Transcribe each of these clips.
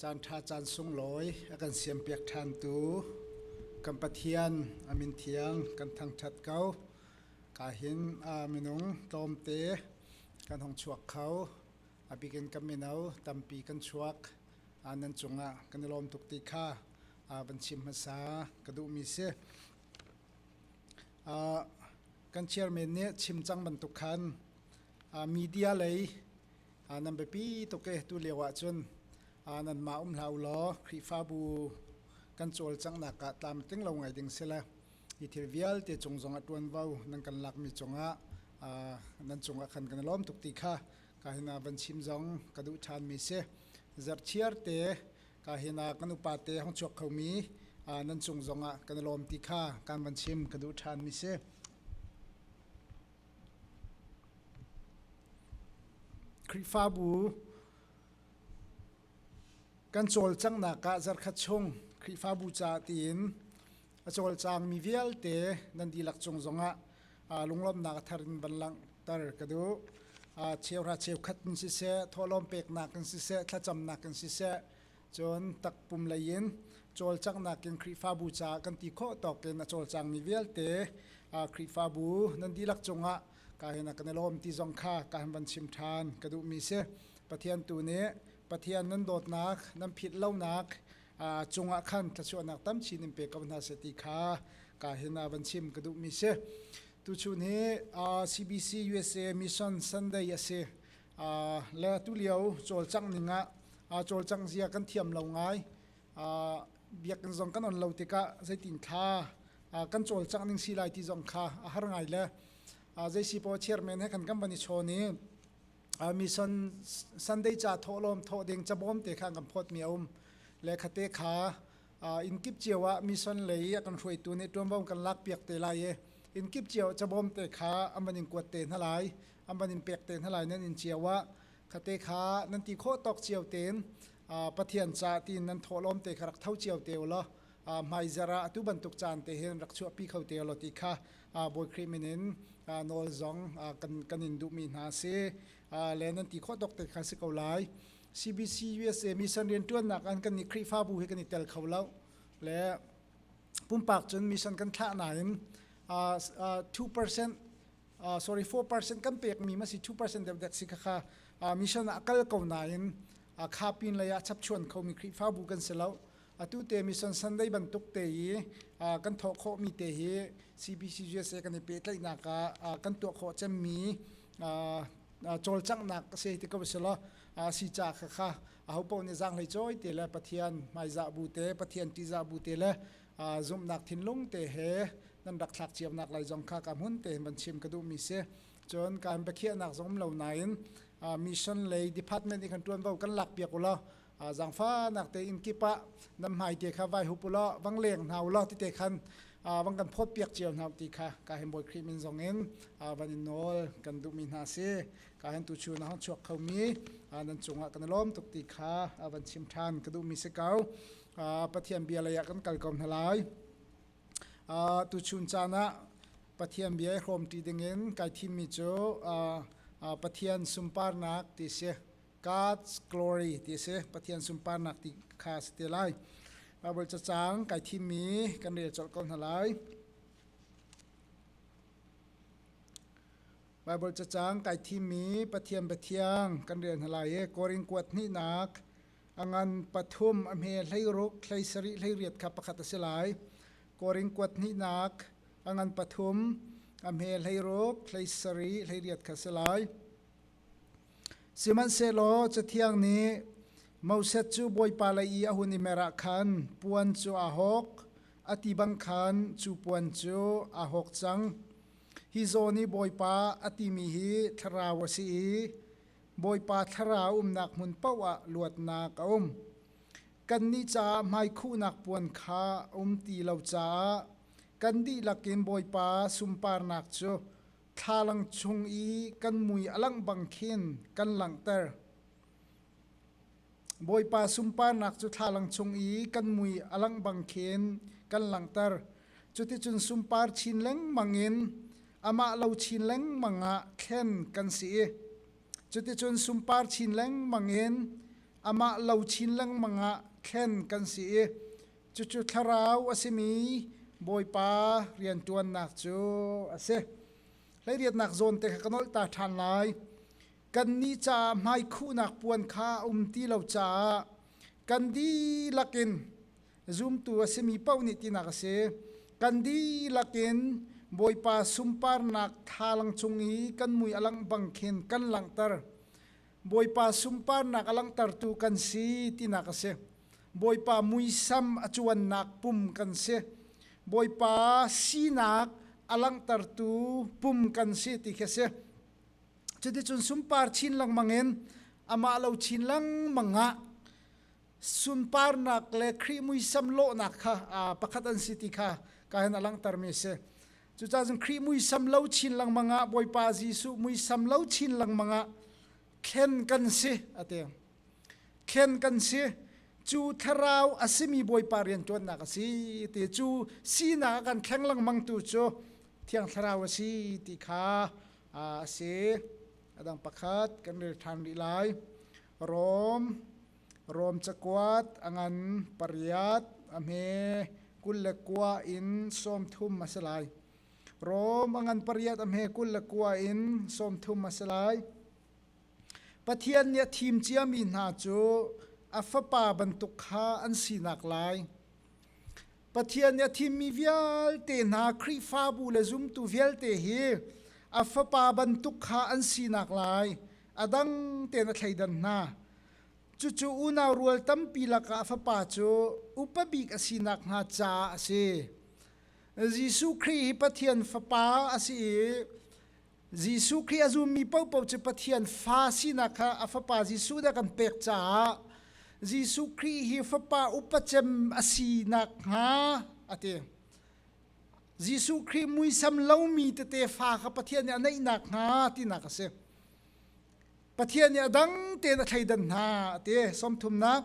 Caanṭha caan sunglawi a kan siampiak ṭhantu kan Pathian a min thiang kan thangṭhat ko. Ka hin minung tlawmte kan hong chuak kho. A bikin kan mino tampi kan chuak. Nan cungah kan i lawm tuk ti kha van chim hmasa ka duhmi si. Kan chairman nih chim cang bantuk khan media lei Ah, nan biapi tuk e tu lio ah cun ah, nanmah um hlah u law Khrihfabu kan cawlcanghnak ah tlam ting lo ngai ding sila hi thil vialte cung zong ah ṭuanvo nan kan lakmi cungah ah, nan cungah khan kan i lawm tuk ti kha ka hina van chim zong ka duh ṭhanmi si zarchiarte ka hina kan upate hong chuak khomi ah, nan cung zongah kan i lawm ti kha kan van chim ka duh ṭhanmi si Khrihfabu kan cawlcanghnak ah zarkhat chung Khrihfabu caah tiin a cawlcangmi vialte nan dihlak cung zongah lunglawmhnak a thar in van langhter ka duh. Cheuhra cheukhat in siseh, thawhlawm peknak in siseh, thlacamnak in siseh, Cun takpum leiin cawlcanghnak in Khrihfabu caah kan ti khawh tawkin a cawlcangmi vialte Khrihfabu nan dihlak cungah ka hin kan i lawm ti zong kha ka han van chim ṭhan ka duhmi si. Pathian tu nih Pathian nan dawtnak nan philh lonak cungah khan thluachuahnak tamchin in pe ko hna seh ti kha ka hin van chim ka duhmi si. Tuchun hi CBC USA Mission Sunday a si. le tulio cawlcang ningah cawlcang zia kan thiam lo ngai biakinn zong kan on lo tikah zeitin thla kan cawlcang ning si lai ti zong kha a har ngai le zeisipaw chairman he kan kan van i chawn i mission sunday ca thawhlawm thawh ding cabawm te kha kan phawt mi a um le khate kha in kip cio ah mission lei a kan hruaitu nih ṭuanvo kan lakpiak te lai i in kip cio cabawm te kha aman in kuat te hna lai aman in pek te hna lai nan in cio ah khate kha nan ti khawh tawk cio tein pathian ca tiin nan thawhlawm te kha rak tho cio te ulaw hmai zara atu bantuk caan te hin rak chuahpi kho te ulaw ti kha bawi krimin in nawl zong kan in duhmi hna si le nan ti khawh tawk te kha si ko lai CBC USA mission riantuannak an kan i Khrihfabu hi kan i tel kho lo le pumpak cun mission kan thlah nain uh, uh, 2% uh, sorry 4% kan pekmi ma si 2% deuh si kha uh, mission ah kal ko nain uh, khapin lei ah chapchuan khomi Khrihfabu kan si lo atu te mission sunday bantuk te i kan thawh khawhmi te hi cbc usa kan i pehtlaihnak ah kan tuah khawh cemmi cawlcanghnak si ti ko si lo si ca kha kha aho paoh nih zaang hlei cawi te le pathian hmaizah bu te pathian ṭihzah bu te le zumhnak thinlung te he nan rak thlak ciamnak lai zong kha ka hmun te van chim ka duhmi si cun kan biakhiahnak zong um lo nain mission lei department i kan ṭuanvo kan lak piak u law zangfanak tein kip ah nan hmai te kha vai hup ulaw vang leng hna ulaw tite khan vang kan phawt piak cio hna ti kha ka hen bawi krim in zong in van in nawl kan duh mi hna si ka hen tu chu na hong chuak kho mi nan cungah kan lom tuk ti kha van chim than ka duh mi si kau pathian bia lei ah kan kal ko hna lai tu chun caan ah pathian bia hrom ti ding in kai thim mi cu pathian sumparnak ti si God's glory ti a si. Pathian sunparnak ti kha a si te lai. Baibal cacang kai thimmi kan rel colh ko hna lai. Baibal cacang kai thimmi Pathian Pathiang kan rel hna lai e. Korin kuat hnihnak angan pathum a hme hleiruk hleisari hleiriat kha pakhat a si lai. Korin kuat hnihnak angan pathum a hme hleiruk hleisari hleiriat kha si lai. Sihmanhsehlaw Cathiang nih Moses cu Bawipa lei i a hun i mer ah khan puan cu aa hawk, a ti bang khan cu puan cu aa hawk cang. Hi zawn i Bawipa a timi hi thlarau a si i Bawipa thlarau umnak hmun paoh ah luatnak a um. Kannih caah hmaikhuhnak puan kha a um ti lo caah kan dihlak in Bawipa sunparnak cu Thlalang chung i kan mui a langh bang khin kan langhter. Bawipa sunparnak cu thlalang chung i kan mui a langh bang khin kan langhter. Cuticun sunpar chin lengmang in amah lo chin lengmang ah thlen kan si i cuticun sunpar chin lengmang in amah lo chin lengmang ah thlen kan si i Cucu thlarau a simi Bawipa rianṭuannak cu a si. Hleiriatnak zawn te kha ka nolh ta ṭhan lai. Kannih caah hmaikhuhnak puan kha a um ti lo caah kan dihlak in zumtu a simi paoh nih tinak a si. Kan dihlak in Bawipa sunparnak thalang cung i kan mui a langh bang khin kan langhter. Bawipa sunparnak a langhtertu kan si tinak a si. Bawipa muisam a cuannak pum kan si. Bawipa sinak a langhtertu pum kan si ti khi a si. Cuticun sunpar chin lengmang in amah lo chin lengmang ah sunparnak le Khrih muisam lawhnak kha pakhat an si ti kha ka hin a langhtermi a si. Cucaah cun Khrih muisam lo chin lengmang ah Bawipa Jesuh muisam lo chin lengmang ah thlen kan si a ti. Thlen kan si cu thlarau a simi Bawipa rianṭuannak a si ti cu sinak a kan thleng lengmang tu cu thiang thlarau a si ti kha a si. A dang pakhat kan rel ṭhan rih lai. Rom Rom cakuat a ngan pariat a hme kul le kua in sawmthum a si lai. Rom a ngan pariat a hme kul le kua in sawmthum a si lai. Pathian nih a thim ciami hna cu a fapa bantuk kha an sinak lai. Pathian nih a thimmi vialte hna Khrihfabu le zumtu vialte hi a fapa bantuk kha an sinak lai. a dang tein a thleidan hna. Cucu unau rual tampi lakah a fapa cu upa bik a sinak hnga caah a si. Jesuh Khrih hi Pathian fapa a si i Jesuh Khrih a zummi paohpaoh cu Pathian fa sinak kha a fapa Jesuh nih a kan pek caah Jesuh Khrih hi fapa upa cem a sinak hnga a ti. Jesuh Khrih muisam lomi tete fa kha Pathian nih a neih nakhnga tinak a si. Pathian nih a dang tein a thleidan hna a ti. Sawmthumnak.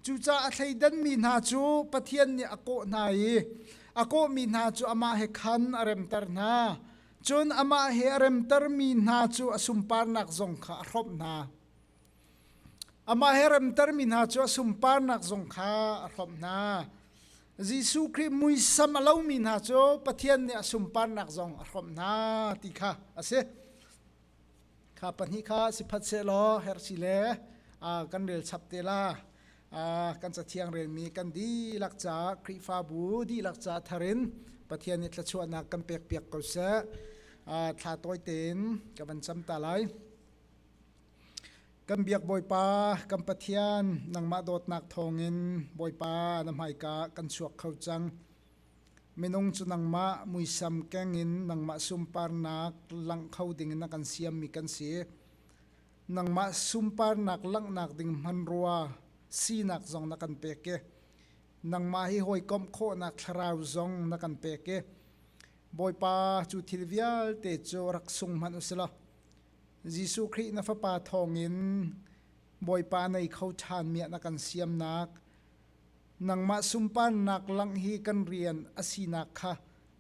Cucaah a thleidanmi hna cu Pathian nih a kawh hna i a kawhmi hna cu amah he khan a remter hna. Cun amah he a remtermi hna cu a sunparnak zong kha a hrawmh hna. Amah he remtermi hna cu a sunparnak zong kha a hlawmh hna. Jesuh Khrih muisam a lomi hna cu Pathian nih a sunparnak zong a hrawmh hna ti kha a si. Kha pahnih kha si phat sehlaw hersi le kan rel chap te la. kan cathiang relmi kan dihlak ca Khrihfabu dihlak ca tharin Pathian nih thluachuahnak kan pek piak ko seh. thla tawi tein ka van cam ta lai. Kan biak Bawipa, kan Pathian, nangmah dawtnak thawngin Bawipa na hmaika kan chuak kho cang. Minung cu nangmah muisam kengin nangmah sunparnak langh kho dingin na kan siammi kan si. Nangmah sunparnak langhnak ding hmanrua sinak zong na kan pek i nangmah hi hawikomh khawhnak thlarau zong na kan pek i Bawipa cu thil vialte cu rak sung hmanh u sih law Jesuh Khrih na fapa thawngin Bawipa nei kho ṭhanmi ah na kan siamnak nangmah sunparnak langh hi kan rian a sinak kha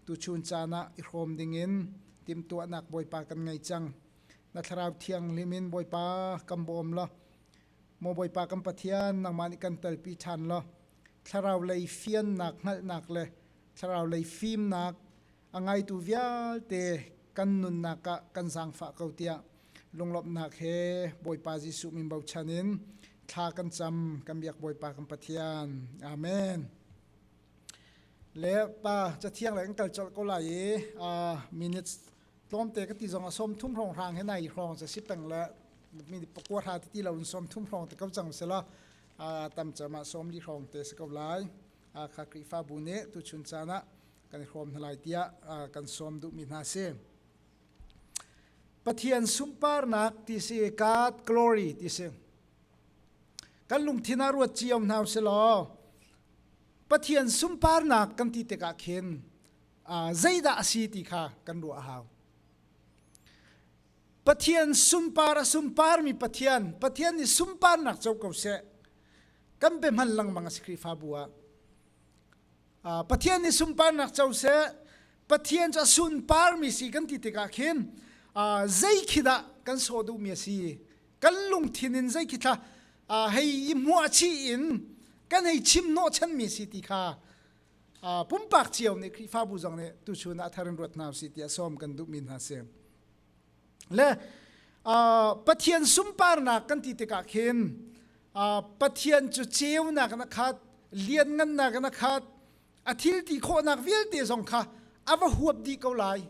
tuchun caan ah i hrawm dingin timhtuahnak Bawipa kan ngei cang. Na thlarau thianghlim in Bawipa kan bawm law maw Bawipa kan Pathian nangmah nih kan telpi ṭhan law thlarau lei fiannak hngalhnak le thlarau lei fimnak a ngaitu vialte kan nunnak ah kan zaangfah ko tiah lunglawmhnak he Bawipa Jesuh min bochan in thla kan cam kan biak Bawipa kan Pathian Amen le pa cathiang le kan kal colh ko lai i minutes tlawmte ka ti zong a som thum hrong hrang he nai hrong ca si peng le mi pakua ra ti lo in som thum hrong te ko cang sela tam cama som li hrong te si ko lai kha Khrihfa bu nih tu chun caan ah kan i hrawm hna lai tiah kan sawm duhmi hna si. Pathian sunparnak ti si, God glory ti si. Kan lungthin ah ruat cio hna u si law Pathian sunparnak kan ti tikah khin zeidah a si ti kha kan ruah a hau. Pathian sumpar a sumparmi Pathian, Pathian nih sumparnak co ko seh. Kan pe hman langmang a si Khrihfabu ah. Pathian nih sunparnak co seh Pathian cu a sunparmi si kan ti tikah khin zei khi dah kan saw duhmi a si kan lungthin in zei khi thla hei i hmuah chih in kan hei chim nawhchanmi si ti kha pumpak cio nih Khrihfabu zong nih tuchun ah a thar in ruat hna usih ti a sawm kan duhmi hna si. le pathian sumparnak kan ti tikah khin pathian cu ceunak na khat lianngannak na khat a thilti khawhnak vialte zong kha a va huap dih ko lai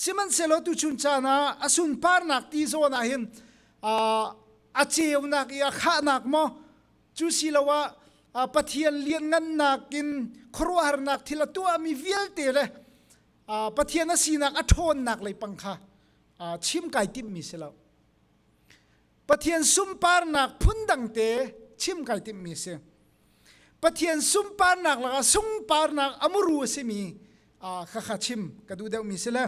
sihmanhsehlaw tuchun caan ah a sunparnak ti zawn ah hin a ceunak i a khahnak maw cu siloah pathian lianngannak in khuaruahharnak thil a tuahmi vialte le Pathian a sinak a ṭhawnnak lei pang kha chim kai timmi si lo. Pathian sunparnak phundangte chim kai timmi si. Pathian sunparnak lakah sunparnak a muru a simi kha kha chim ka duh deuhmi si le.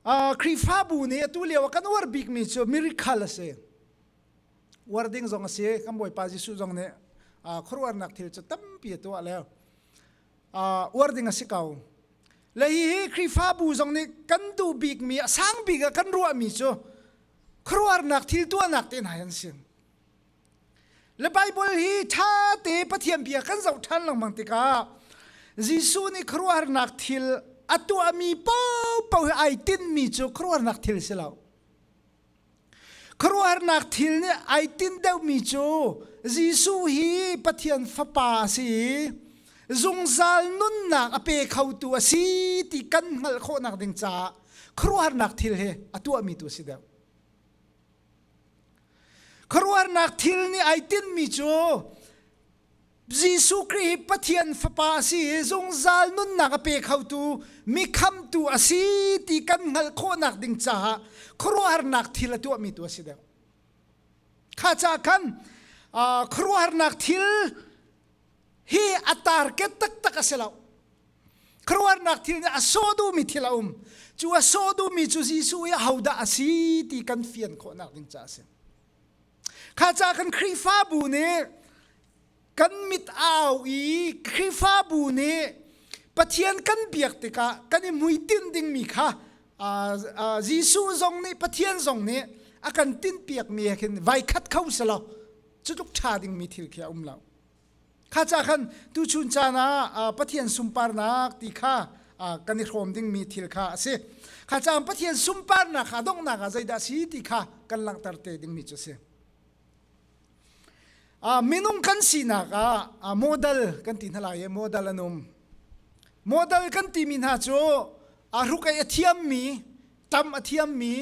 Khrihfabu nih atu lio kan uar bikmi cu miracle a si. Uar ding zong a si. Kan Bawipa Jesuh zong nih khuaruahnak thil cu tampi a tuah le. uar ding a si ko le hi hi Khrihfabu zong nih kan duh bikmi a sang bik a kan ruahmi cu khuaruahnak thil tuahnak te hna an si le Bible hi ṭha te Pathian bia kan zoh ṭhan lengmang tikah Jesuh nih khuaruahnak thil a tuahmi paohpaoh hi ai tinmi cu khuaruahnak thil si lo Khuaruahharnak thil nih ai tinh deuhmi cu Jesuh hi Pathian Fapa a si i zungzal nunnak a pe khotu a si ti kan hngalh khawhnak ding caah khuaruahharnak thil hi a tuahmi tu a si deuh. Khuaruahharnak thil nih ai tinmi cu Jesuh Khrih hi Pathian fapa a si i zungzal nunnak a pe khotu mi khamtu a si ti kan hngalh khawhnak ding caah khuaruahharnak thil a tuahmi tu a si deuh. Kha ca khan uh, khuaruahharnak thil hi a target taktak a si lo. Khuaruahharnak thil nih a sawh duhmi thil a um. Cu a sawh duhmi cu Jesuh hi ahodah a si ti kan fian khawhnak ding caah a si. Kha ca kan Khrihfabu nih kan mit au i Khrihfabu nih Pathian kan biak tikah kan i hmuitinh dingmi kha Jesuh zong nih Pathian zong nih a kan tinhpiakmi he khin vai khat kho selaw cutluk ṭha dingmi thil khi a um lo. kha ca khan tuchun caan ah Pathian sunparnak ti kha kan i hrawm dingmi thil kha a si kha caan Pathian sunparnak kha donghnak ah zeidah si ti kha kan langhter te dingmi cu a si minung kan sinak ah modal kan ti hna lai i modal an um modal kan timi hna cu a ruk ei a thiammi tam a thiammi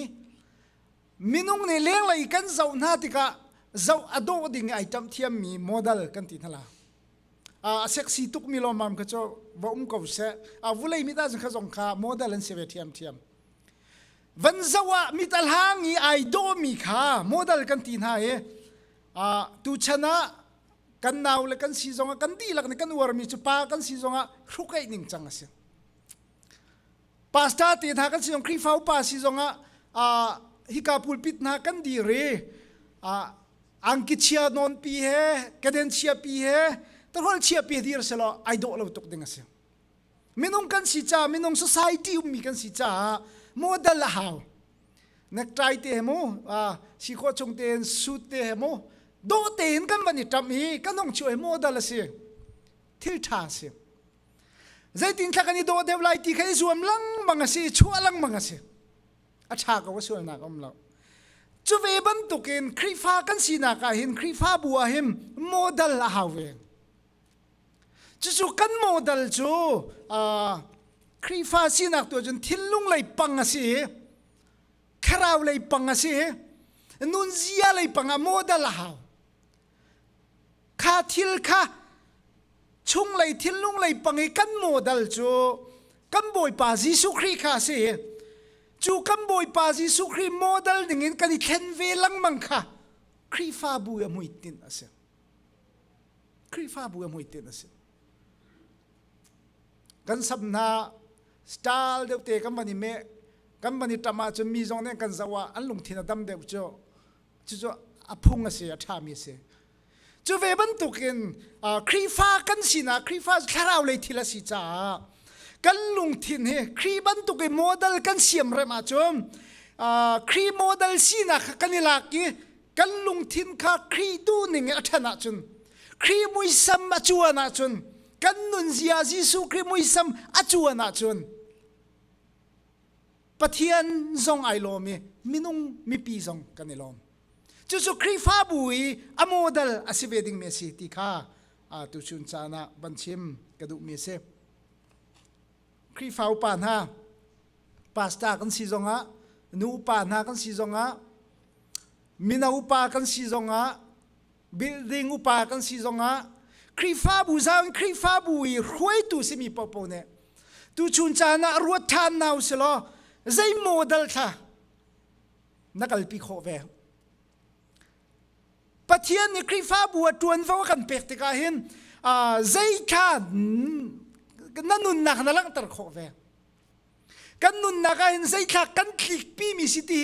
minung nih lenglei kan zoh hna tikah zoh a dawh ding ai ṭamh thiammi model kan ti hna la a sexy tukmi lawmmam kha cu va um ko seh a vulei mit ah kha zong kha model an si ve ṭhiam ṭhiam van zoh ah mitahlang i ai dawmi kha model kan ti hna i tu chan ah kan nau le kan si zong ah kan dihlak nih kan uarmi cu pa kan si zong ah hrukaih ning cang a si pastor te hna kan sinong Khrihfa upa si zongah uh, hika pulpit hna kan di re uh, angki chia non pi he kaden chia pi he tarhol chia pi dir selo ai do lo tuk ding asi minung kan si cha minung society ummi kan si cha model a hau nek trai te hemu uh, si kho chung te suit te hemu do te in kan van i tam hi kanong chu model asi thil tha asi zeitin thlak kan i dawh deuh lai ti kha i zuam lengmang a si chuah lengmang a si a ṭha ko a sualnak a um lo cu ve bantukin Khrihfa kan sinak ah hin Khrihfabu ah hin modal a hau ve cucu kan modal cu uh, Khrihfa sinak tu cun thinlung lei pang a si kharau lei pang a si nunzia lei pang ah modal a hau kha thil kha chunglei thinlunglei pang i kan modal cu kan bawipa Jesuh Khrih kha a si cu kan bawipa Jesuh Khrih modal dingin kan i thlen ve lengmang kha Khrihfabu a hmuitin a si Khrihfabu a hmuitin a si kan sam hna style deuh te kan van i meh kan van i ṭam ahcun mi zong nih kan zoh ah an lungthin a dam deuh cu cucu a phung a si a ṭhami a si cu ve bantukin Khrihfa kan sinak Khrihfa thlarau lei thil a si caah kan lungthin hi Khrih bantuk i model kan siam rem ahcun Khrih model sinak kha kan i lak i kan lungthin kha Khrih duhning i a ṭhan ahcun Khrih muisam a cuan ahcun kan nunzia Jesuh Khrih muisam a cuan ahcun Pathian zong ai lawm i minung mipi zong kan i lawm. Cucu Khrihfabu i a modal a si ve ding mi a si ti kha tu chun caan ah ban chim ka duh mi a si. Khrihfa upa hna, pastor kan si zong ah, nu upa hna kan si zong ah, mino upa kan si zong ah, building upa kan si zongah Khrihfabu zang Khrihfabu i hruaitu simi popo nih tu chun caan ah ruat than nau si law zei model thla na kalpi khawh ve Pathian nih Khrihfabu a tuan va kan pek tikah hin uh, zei kha na nunnak na langhter khawh ve kan nunnak ah hin zeithlak kan thlikpi mi si ti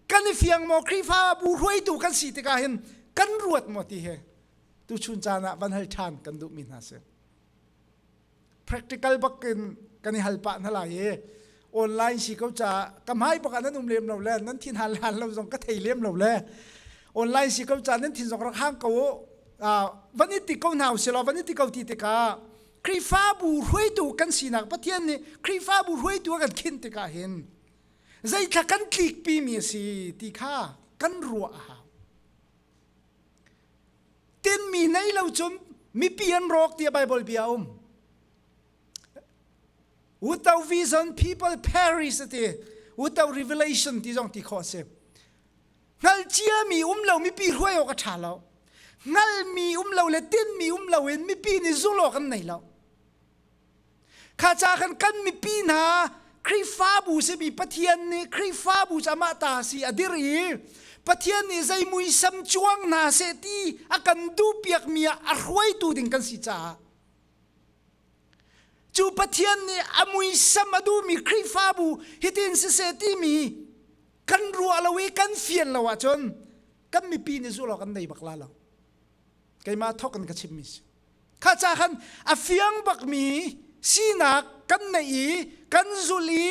kan i fiang maw Khrihfabu hruaitu kan si tikah hin kan ruat maw ti he tu chun caan ah van hal ṭhan kan duh mi hna si practical bak in kan i hal pah hna lai i online si ko ca ka hmai bak ah nan um lem lo le nan thin hal hal lo zong ka thei lem lo le online si ko ca nan thin zong rak hang ko van i ti ko hna u selaw van i ti ko ti tikah Khrihfabu hruaitu kan sinak Pathian nih Khrihfabu hruaitu a kan khinh tikah hin zeithla kan tlikpi mi a si ti kha kan ruah a hau. Tinmi nei lo cun mipi an rawk tiah Bible bia a um. Without vision people perish ti. Without revelation ti zong ti khawh a si. hngal ciami um lo mipi hruai awk a ṭha lo hngalmi um lo le tinmi um lo in mipi nih zul awk an nei lo kha ca khan kan mipi hna Khrihfabu simi Pathian nih Khrihfabu cu amah ta si a dir i Pathian nih zei muisam cuang hna seh ti a kan duhpiakmi ah a hruaitu ding kan si caah cu pathian nih a muisam a duhmi khrihfabu hitin siseh timi kan ruah lo i kan fian lo ahcun kan mipi nih zulh kan nei bak la lo keimah thawk in ka chimmi si kha ca khan a fiang bakmi sinak kan neih i kan zulh i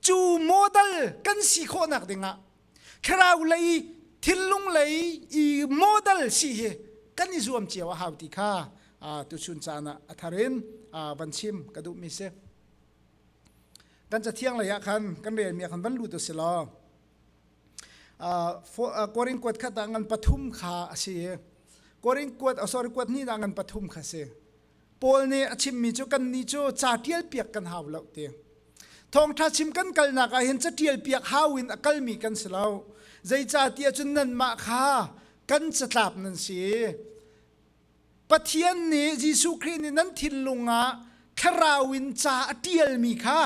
cu model kan si khawhnak dingah kharau lei thillung lei i model si hi kan i zuam cio a hau ti kha tu chun caan ah a tharin van chim ka duh mi si kan cathiang lei ah khan kan rel mi khan van lut u silaw korin kuat khat ah ngan pathum kha a si i korin kuat oh sorry kuat hnih ah ngan pathum kha si Paul nih a chimmi cu kannih cu ca ṭial piak kan hau lo ti. Thawngṭha chim kan kalnak ah hin caṭial piak hau in a kalmi kan si lo. Zeicahtiah cun nanmah kha kan catlap nan si i Pathian nih Jesuh Khrih nih nan thinlung ah thlarau in ca a ṭialmi kha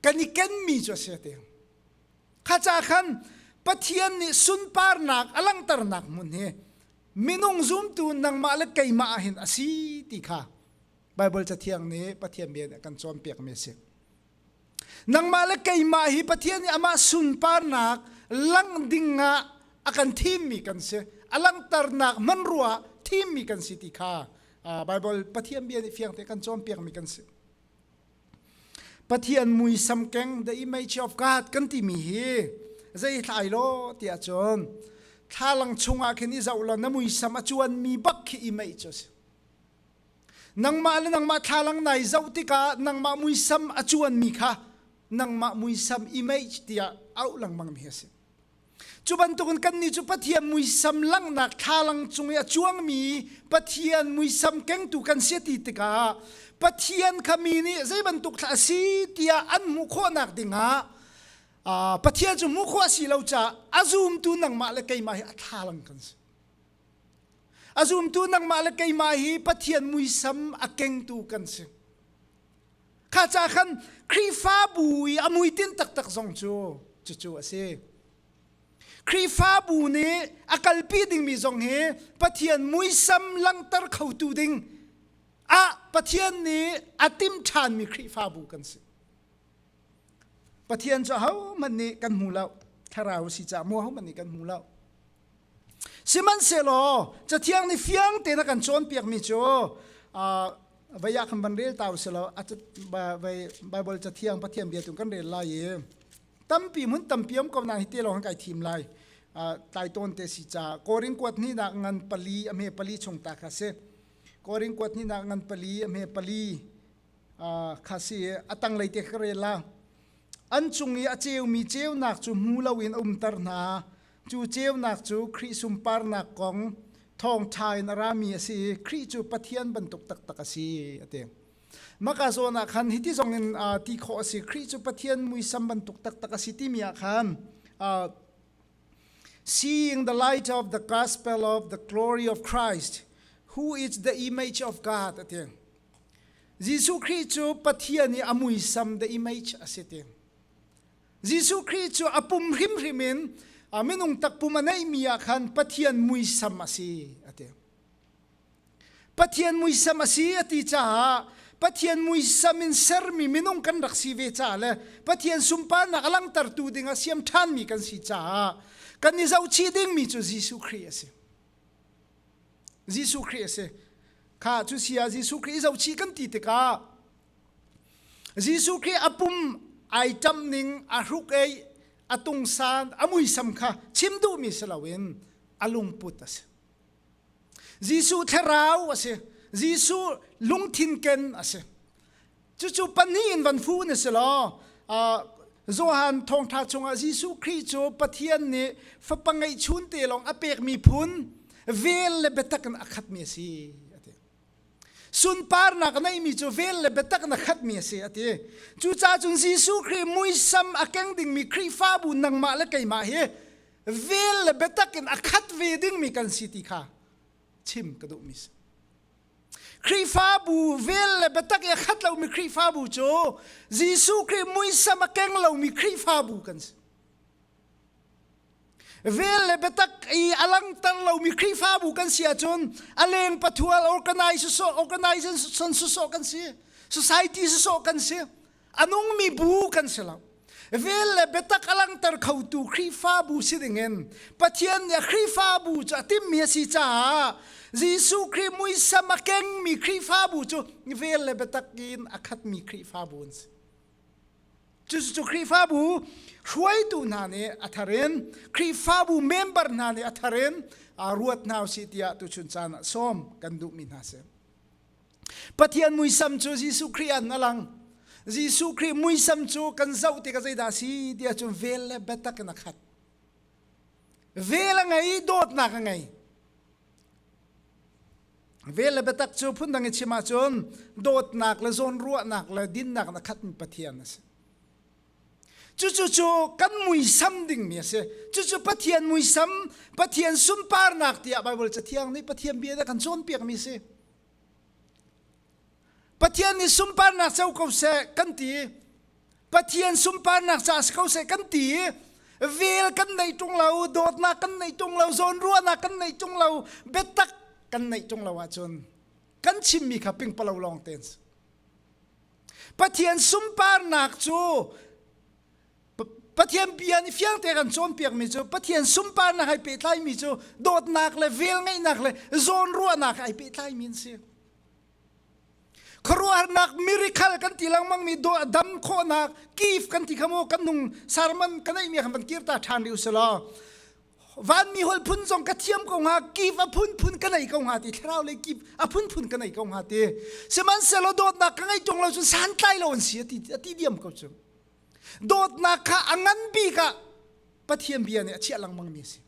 kan i kenmi cu a si ti. Kha ca khan Pathian nih sunparnak a langhternak hmun hi minung zumtu nangmah le keimah ah hin a si ti kha Baibal cathiang nih Pathian bia nih kan cawnpiakmi a si. Nangmah le keimah hi Pathian nih amah sunparnak lang dingah a kan thimmi kan si. A langhternak hmanrua thimmi kan si ti kha Baibal Pathian bia nih fiang te kan cawnpiakmi kan si. Pathian muisam keng the image of God kan timi hi zei thlai lo tiah cun thlalang chungah khin i zoh law na muisam a chuan mi bak khi image cu si nangmah le nangmah thlalang nai zoh tikah nangmah muisam a chuan mi kha nangmah muisam image tiah auh lengmang mi a si Cu bantukin kannih cu Pathian muisam langhnak thlalang cung i a cuangmi Pathian muisam kengtu kan si a ti tikah Pathian kha mi nih zei bantuk thla a si tiah an hmuh khawhnak dingah Pathian cu hmuh khawh a si lo caah a zumtu nangmah le keimah hi a thlalang kan si. A zumtu nangmah le keimah hi Pathian muisam a kengtu kan si. Kha ca khan Khrihfabu i a muitin taktak zong cu cucu a si. Khrihfabu nih a kalpi dingmi zong hi Pathian muisam langhter khotu ding ah Pathian nih a tim ṭhanmi Khrihfabu kan si. Pathian cu ahohmanh nih kan hmu lo. Thlarau a si caah mu ahohmanh nih kan hmu lo. Sihmanhsehlaw cathiang nih fiang tein a kan cawnpiakmi cu vai ah khan van rel ta u silo Baibal cathiang Pathian bia tu kan rel lai i tampi hmun tampi um ko na hi te lawng kan kai thim lai tlai tawn te si ca Korin kuat ni nak ngan pali a hme pali chung ta kha si Korin kuat ni nak ngan pali a hme pali kha si a tang lei te ka rel la an cung i a ceu mi ceunak cu hmu loin a umter hna Cu ceunak cu Khrih sunparnak kong thawngṭha in a rami a si i Khrih cu Pathian bantuk taktak a si a ti. Maka zawn ah khan hiti zong in uh, ti khawh a si Khrih cu Pathian muisam bantuk taktak a si timi ah khan uh, seeing the light of the gospel of the glory of Christ who is the image of God a ti. Jesuh Khrih cu Pathian i a muisam the image a si ti. Jesuh Khrih cu a pum hrimhrim in a minung takpum a neihmi ah khan Pathian muisam a si a ti. Pathian muisam a si a ti caah Pathian muisam in sermi minung kan rak si ve caah le Pathian sunparnak a langhtertu ding a siam ṭhanmi kan si caah kan i zohchih dingmi cu Jesuh Khrih a si. Jesuh Khrih a si. Kha cu sia Jesuh Khrih i zohchih kan ti tikah Jesuh Khrih a pum ai ṭam ning a hruk ei a tungsan a muisam kha chim duhmi si loin a lungput a si. Jesuh thlarau a si. Jesuh lungthin ken a si. Cucu pahnih in van fu na si law uh, Johan thawngṭha chungah Jesuh Khrih cu Pathian nih fapa ngeih chun te lawng a pekmi phun vel le biatak in a khatmi a si. sunparnak a neimi cu vel le biatak na khatmi a si a ti cucaah cun Jesuh Khrih muisam a keng dingmi Khrihfabu nangmah le keimah hi vel le biatak in a khat ve dingmi kan si ti kha chim ka duhmi si Khrihfabu vel le biatak i a khat lomi Khrihfabu cu Jesuh Khrih muisam a keng lomi Khrihfabu kan si vel le biatak i a langter lomi Khrihfabu kan si ahcun a leng pathual organize organization susawh kan si society susawh kan si a nungmi bu kan si lo vel le biatak a langter khotu Khrihfabu si dingin Pathian nih Khrihfabu cu a timmi a si caah Jesuh Khrih muisam a kengmi Khrihfabu cu vel le biatak in a khatmi Khrihfabu an si Cucu Khrihfabu hruaitu hna nih a tharin Khrihfabu member hna nih a tharin ruat hna si tiah tuchun caan ah sawm kan duhmi hna si. Pathian muisam cu Jesuh Khrih an alang. Jesuh Khrih muisam cu kan zoh ti ka zeidah si tiah cun vel le biatak in a khat. Vel a ngei, dawtnak a ngei. Vel le biatak cu phundang i chim ahcun dawtnak le zawnruahnak le dinnak in a khat mi Pathian a si. Cucu cu kan muisam dingmi a si. Cucu Pathian muisam, Pathian sunparnak tiah Baibal cathiang nih Pathian bia a kan cawnpiakmi a si. Pathian nih sunparnak co ko seh kan ti Pathian sunparnak ca si ko seh kan ti vel kan nei tung lo dawtnak kan nei tung lo zawn ruahnak kan nei tung lo biatak kan nei tung lo ahcun kan chimmi kha pingpalo lawng ten Pathian sunparnak cu Pathian bia nih fiangte kan cawnpiakmi cu Pathian sunparnak hai pehtlaimi cu dawtnak le vel ngeihnak le zawn ruahnak hai pehtlaimi an si khuaruahnak miracle kan ti lengmang mi do dam khawhnak kif kan ti khamu kan nung sermon kan ei mi khan van kir ta than ri usala van mi hol phun zong ka thiam ko nga kif a phun phun ka nei ko nga ti thlarau le kif a phun phun ka nei ko nga ti siman selo dawtnak ka ngai tong lo chu santlai lo an si ati ati diam ko chu dawtnak kha angan bi ka pathian bia ne a chia langmang mi si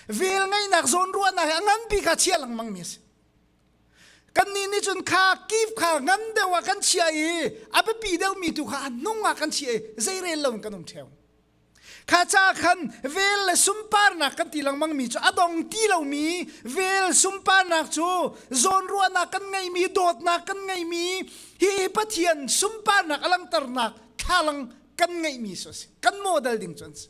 vel ngai nak zon ruwa na angan bi ka chia langmang mi si Kannih nih cun kha kif kha ngam deuh ah kan chia i a biapi deuhmi tu kha a nung ah kan chia i zeirel lo in kan um ṭheo. Kha ca khan vel le sunparnak kan ti lengmangmi cu a dong ti lomi vel sunparnak cu zawnruahnak kan ngeimi dawtnak kan ngeimi hi Pathian sunparnak a langhternak thlalang kan ngeihmi cu a si. Kan model ding cu an si.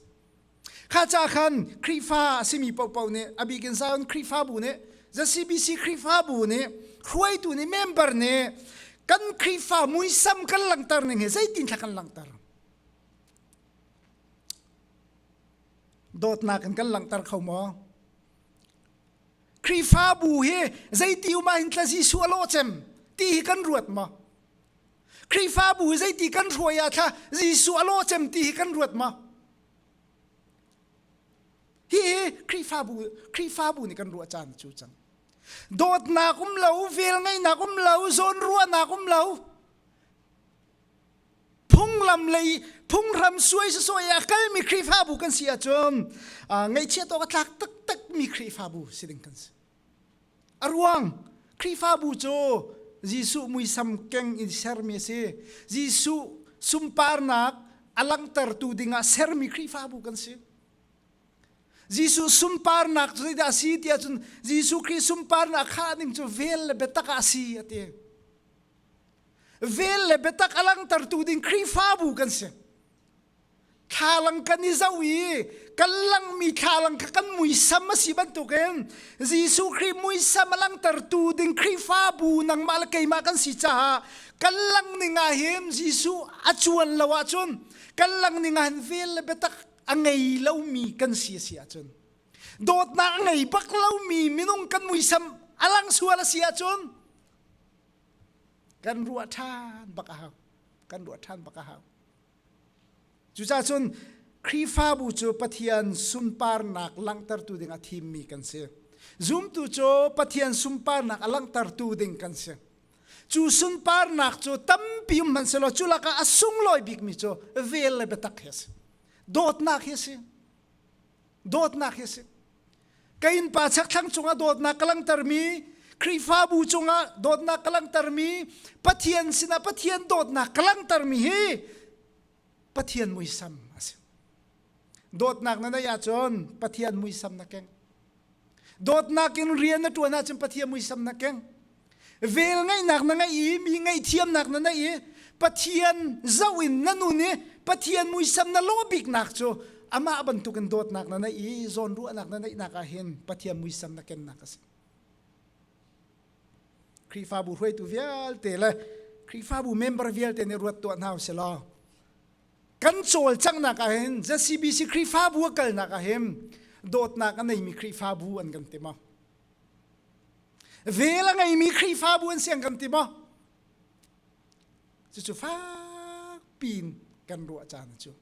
kha ca khan Khrihfa a simi popo nih a bik in Zion Khrihfabu nih The CBC Khrihfabu nih hruaitu nih member nih kan Khrihfa muisam kan langhter ning hi zeitin thla kan langhter dawtnak in kan langhter kho maw Khrihfabu hi zeiti um ah hin tla Jesuh a law cem ti hi kan ruat maw Khrihfabu zeiti kan hruai ah thla Jesuh a law cem ti hi kan ruat ma? Hi hi Khrihfabu Khrihfabu nih kan ruah caan cu cang. Dawtnak um lo, vel ngeinak um lo, zawn ruahnak um lo. Phunglam lei phunghram suai se suai a kalmi Khrihfabu kan si ahcun uh, ngaihchiat awk a tlak taktak mi Khrihfabu si ding kan si. A ruang Khrihfabu cu Jesuh muisam keng in sermi a si. Jesuh sunparnak a langhtertu dingah sermi Khrihfabu kan si. Jesuh sunparnak cu zeidah a si ti ahcun Jesuh Khrih sunparnak khah ding cu vel le biatak ah a si a ti. Vel le biatak a langhtertu ding Khrihfabu kan si. thlalang kan i zoh i kan langmi thlalang kha kan muisam a si bantukin Jesuh Khrih muisam a langtertu ding Khrihfabu nangmah le keimah kan si caah kan langning ah hin Jesuh a cuan lo ahcun kan langning ah hin vel le biatak a ngei lomi kan si a si ahcun dawtnak a ngei bak lomi minung kan muisam a lang sual a si ahcun kan ruah ṭhan bak a hau kan ruah ṭhan bak a hau Cucahcun Khrihfabu cu Pathian sunparnak langhtertu ding a thimmi kan si. Zumtu cu Pathian sunparnak a langhtertu ding kan si. Cu sunparnak cu tampi um hman selaw cu lakah a sunglawi bikmi cu vel le biatak hi a si. Dawtnak hi a si. dawtnak hi a si ka innpa chakthlang cungah dawtnak ka langhtermi Khrihfabu cungah dawtnak ka langhtermi Pathian sinah Pathian dawtnak ka langhtermi hi Pathian muisam a si dawtnak na neih ahcun Pathian muisam na keng dawtnak in rian na ṭuan ahcun Pathian muisam na keng vel ngaihnak na ngei i mi ngaihthiamnak na nei i Pathian zoh in na nun i Pathian muisam na lawbiknak cu amah bantukin dawtnak na nei i zawnruahnak na neihnak ah hin Pathian muisam na kennak a si Khrihfabu hruaitu vialte le Khrihfabu member vialte nih ruat tuah hna u sih law kan cawlcanghnak ah hin ZCBC Khrihfabu a kalnak ah hin dawtnak a neimi Khrihfabu an kan ti maw vel a ngeimi Khrihfabu an si an kan ti maw cucu fakpi in kan ruah caan cu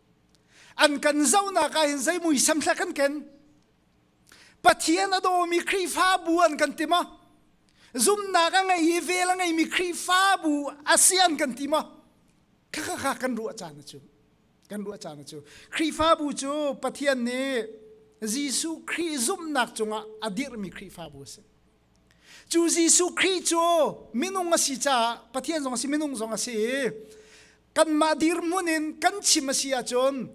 an kan zohnak ah hin zei muisam thlak kan ken Pathian a dawmi Khrihfabu an kan ti maw? Zumnak a ngei i vel a ngeimi Khrihfabu a si an kan ti maw? Kha kha kha kan ruah caan a cu. Kan ruah caan a cu. Khrihfabu cu Pathian nih Jesuh Khrih zumhnak cungah a dirhmi Khrihfabu a si. Cu Jesuh Khrih cu minung a si caah Pathian zong a si, minung zong a si i kanmah dirhmun in kan chim a si ahcun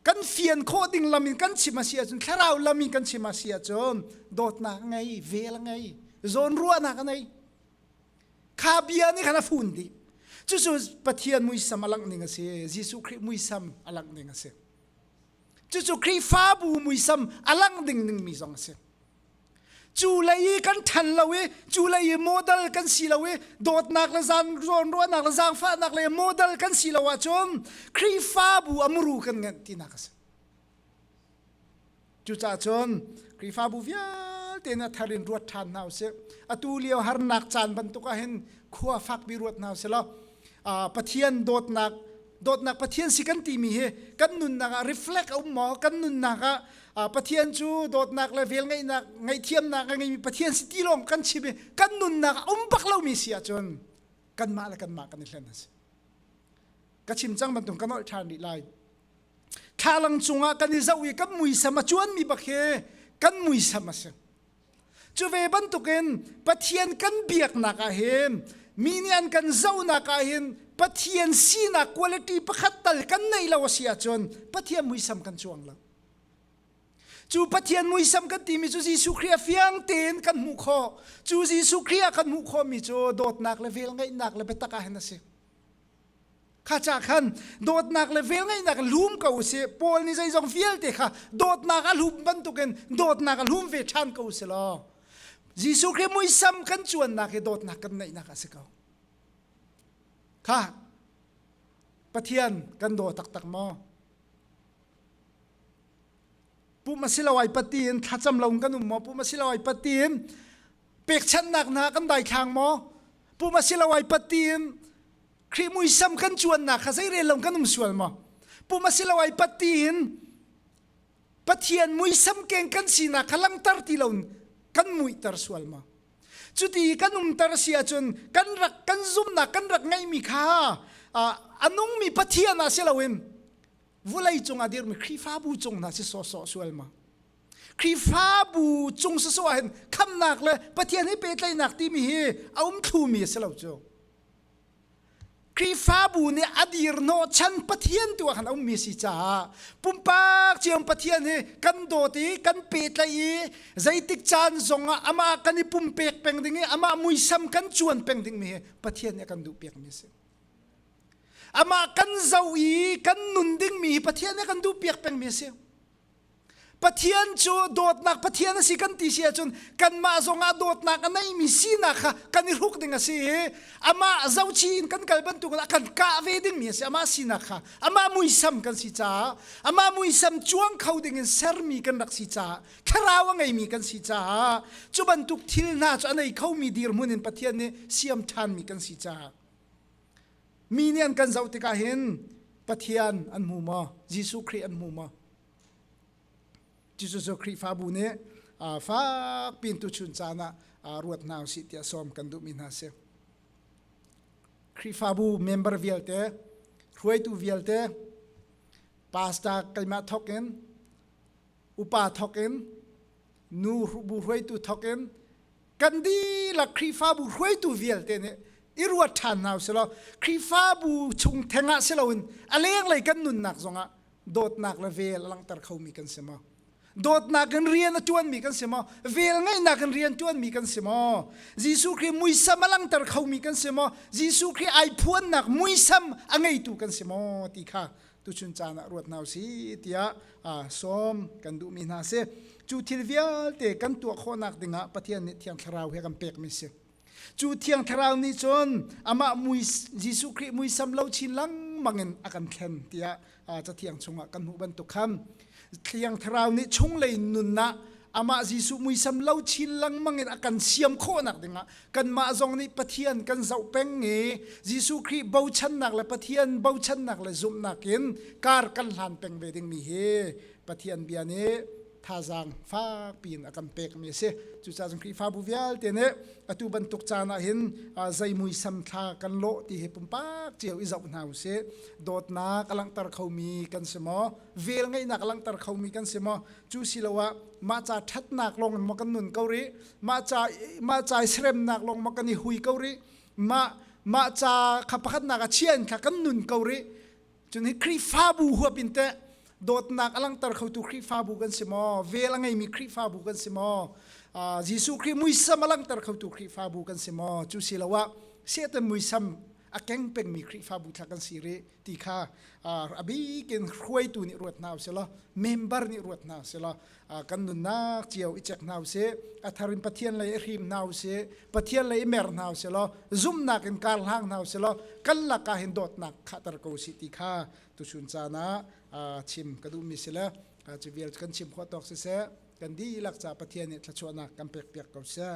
kan fian khawh ding lam in kan chim a si ahcun thlarau lam in kan chim a si ahcun dawtnak ngei vel ngei zawn ruahnak ngei kha bia nih khan a fun dih cucu pathian muisam a langh ning a si jesuh khrih muisam a langh ning a si cucu khrihfabu muisam a langh ding ning mi zong a si cu lei i kan ṭhan lo i cu lei i model kan si lo i dawtnak le zan ruahnak le zaangfahnak le model kan si lo ahcun Khrihfabu a muru kan ngenh tinak a si cucaah cun Khrihfabu vialte in a thar in ruat ṭhan hna usih atu lio harnak caan bantuk ah hin khua fakpi ruat hna usih law Pathian dawtnak dawtnak Pathian si kan timi hi kan nunnak ah reflect a um maw kan nunnak ah Pathian cu dawtnak le vel ngaihnak ngaihthiamnak a ngeimi Pathian si ti lawng kan chim i kan nunnak a um bak lomi si ahcun kanmah le kanmah kan i hlen a si ka chim cang bantuk kan olh ṭhan rih lai thlalang cungah kan i zoh i kan muisam a cuanmi bak hi kan muisam a si Cu ve bantukin Pathian kan biaknak ah hin mi nih an kan zohnak ah hin Pathian sinak quality pakhat tal kan neih lo a si ahcun Pathian muisam kan cuang lo. Cu Pathian muisam kan timi cu Jesuh Khrih a fiang tein kan hmuh khawh. Cu Jesuh Khrih a kan hmuh khawhmi cu dawtnak le vel ngeihnak le biatak ah hin a si. kha cha khan dawtnak le vel ngaihnak lum ko si paul ni zeizong vialte kha dawtnak a lum bantukin dawtnak a lum ve ṭhan ko si law Jesuh Khrist muisam kan cuannak hi dawtnak kan neihnak a si ko kha Pathian kan daw taktak maw pum asiloai patin thlacam lo kan um maw pum asiloai patin pekchanhnak hna kan daithlang maw pum asiloai patin Khrih muisam kan cuannak kha zeirel lo kan um sual maw pum asiloai patin pathian muisam keng kan sinak kha langter ti lo kan muihter sual maw cuti kan umter si ahcun kan rak kan zumnak kan rak ngeihmi kha a nungmi pathian ah si loin vulei cung a dirmi Khrihfabu cung hna si sawsawh sual ma Khrihfabu cung si so ahhin khamnak le Pathian he pehtlaihnak timi hi a um thlumi a si lo cu Khrihfabu nih a dir hnawh chan Pathian tu ah khan a ummi si caah pumpak ciam Pathian hi kan dawt i kan pehtlaih i zeitik caan zong ah amah kan i pumpek peng ding i amah muisam kan cuan peng dingmi hi Pathian nih a kan duh piakmi a si. Amah kan zoh i kan nun dingmi hi Pathian he kan duh piak pengmi a si. Pathian cu dawtnak Pathian a si kan ti si ahcun kanmah zongah dawtnak a neimi sinak kha kan i hruk ding a si i amah zohchih in kan kal bantukin a kan kah ve dingmi a si amah sinak kha amah muisam kan si caah amah muisam cuang kho dingin sermi kan rak si caah thlarau a ngeimi kan si caah cu bantuk thil hna cu a nei khomi dirhmun in Pathian nih siam ṭhanmi kan si caah Mi nih an kan zoh tikah hin Pathian an hmu maw? Jesuh Khrih an hmu maw? Jesuh Khrihfabu nih fak pin tuchun caan ah ruat hna usih tiah sawm kan duhmi hna si. Khrihfabu member vialte, hruaitu vialte, pastor keimah thok in upa thokin nu bu hruaitu thokin kan dihlak Khrihfabu hruaitu vialte nih i ruat ṭhan hna selaw Khrihfabu chung thengah si loin a lenglei kan nunnak zongah dawtnak le vel a langhter khomi kan si maw dawtnak in rian a ṭuanmi kan si maw vel ngaihnak in rian ṭuanmi kan si maw Jesuh Khrih muisam a langhter khomi kan si maw Jesuh Khrih ai phuannak muisam a ngeitu kan si maw ti kha tuchun caan ah ruat hna usih tiah sawm kan duhmi hna si cu thil vialte kan tuah khawhnak dingah Pathian nih thiang thlarau he kan pekmi si cu thiang thlarau nih cun amah mui Jesuh Khrih muisam lo chin langmang in a kan thlen tiah cathiang chungah kan hmuh bantuk khan Thiang Thlarau nih chunglei nunnak amah Jesuh muisam lo chin lengmang in a kan siam khawhnak dingah kanmah zong nih Pathian kan zoh peng i Jesuh Khrih bochannak le Pathian bochannak le zumhnak in kar kan hlan peng ve dingmi hi Pathian bia nih thazaang fakpi in a kan pekmi a si cucaah Khrihfabu vialte nih atu bantuk caan ah hin zei muisam thla kan lawh ti hi pumpak cio i zoh hna usih dawtnak a langhter khomi kan si maw vel ngeihnak langhter khomi kan si maw cu siloah mah ca ṭhatnak lawng ma kan nun ko rih mah ca mah ca i seremnak lawng ma kan i hui ko rih mah mah ca kha pakhatnak a chian kha kan nun ko rih cun hi Khrihfabu huap in teh dawtnak a langhter khotu Khrihfabu kan si maw vel a ngeimi Khrihfabu kan si maw uh, Jesuh Khrih muisam a langhter khotu Khrihfabu kan si maw cu siloah Satan muisam a keng pengmi Khrihfabu thla kan si rih ti kha a bikin hruaitu nih ruat hna usilaw member nih ruat hna usilaw kan nunnak cio i chek hna usih a thar in Pathian lei i hrim hna usih Pathian lei i mer hna usilaw zumnak in kar hlang hna usilaw kan lakah hin dawtnak khahter ko usih ti kha tuchun caan ah chim ka duhmi si le cu vial kan chim khawh tawk siseh kan dihlak ca Pathian nih thluachuahnak kan pekpiak ko seh